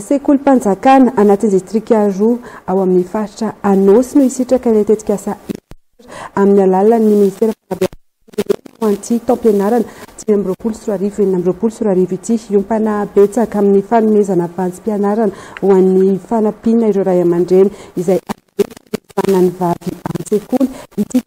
Sekolim-panjakana anatin'ny distrika roa ao amin'ny faritra Anôsy no hisitraka ilay tetikasa Inter amin'ny alalan'ny minisitera fanabeazam-pirenena ho an'ity taom-pianarana dimy amby roapolo sy roa arivo enina amby roapolo sy roa arivo ity. Hiompana betsaka amin'ny fanomezana vantsim-pianarana ho an'ny fanampiana ireo ray aman-dreny izay avelany hiasana ny vavy an-tsekoly ity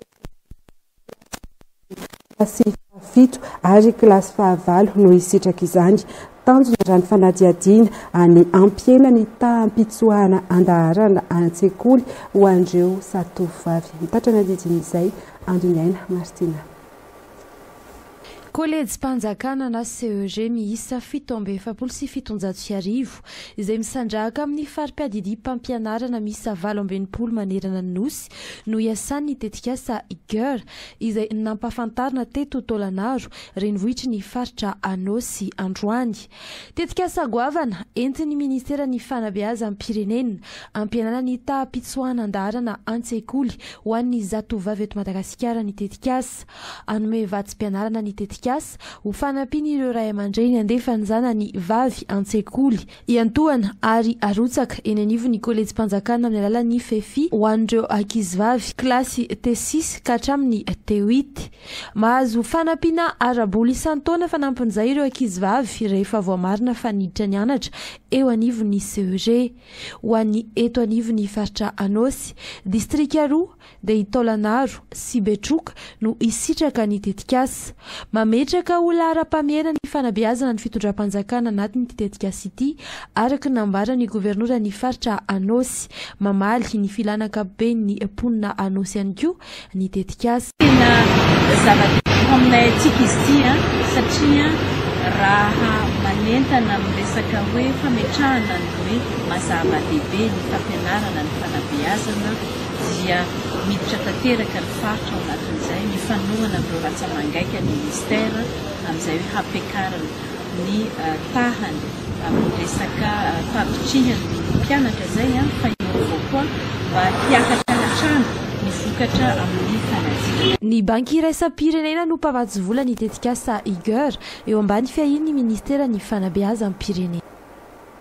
Kilasy fahafito ary kilasy fahavalo no hisitraka izany. Tanjona raha ny fanadihadiana any hampihena ny taham-pitsoahana an-daharana any an-tsekoly ho an'ireo zatovovavy. Ny taitra ny andidin'izay, Andoniaina Martina. Kôlejim-panjakana na CEG miisa fito amby efapolo sy fitonjato sy arivo izay misandrahaka amin'ny fari-piadidiam-pampianarana miisa valo amby enimpolo manerana ny Nosy no hiasan'ny tetikasa Gear izay nampahafantarina teto Tôlanaro renivohitry ny faritra Anôsy androany. Tetikasa goavana entin'ny ministeran'ny fanabeazam-pirenena hampihenana ny taham-pitsoahan-daharana an-tsekoly ho an'ny zatovovavy eto Madagasikara ny tetikasa Hanome vatsim-pianarana ny tetikasa ho fanampian'ireo ray aman-dreny handefa ny zanany vavy an-tsekoly iantohana ary arotsaka eny anivon'ny Kolejim-panjakana amin'ny alalan'ny Fefi ho an'ireo ankizivavy kilasy T6 ka hatramin'ny T8. Mahazo fanampiana ara-bola isan-taona fanampin'izay ireo ankizivavy rehefa voamarina fa niditra nianatra eo anivon'ny CEG. Ho an'ny eto anivon'ny faritra Anôsy, distrika roa, dia i Taolagnaro sy Betroka no hisitraka ny tetikasa. Mametraka ho laharam-pahamehana ny fanabeazana ny fitondram-panjakana anatin'ity tetikasa ity, araka ny nambaran'ny governoran'ny faritra Anôsy. Mamaly ny filàna ankapoben'ny mponina Anôsy ihany koa ny tetikasa. Tena zava-dehibe ho aminay antsika izy ity satria raha manentana amin'ny resaka hoe fametrahana ny hoe mazava-dehibe ny fampianarana, ny fanabeazana dia miditra tanteraka ny faritra ao anatin'izay ny fanohana amin'ireo ratsa-mangaika ny Ministera amin'izay hoe hampiakarana ny tahany amin'ny resaka fampitrihany ny mpianatra izay fa hiova koa mba hiakatra hatrany ny vokatra amin'ny fanadinana. Ny Banky Iraisam-pirenena no mpamatsy vola ny tetikasa IGER eo ambany fiahian'ny Ministeran'ny Fanabeazam-pirenena.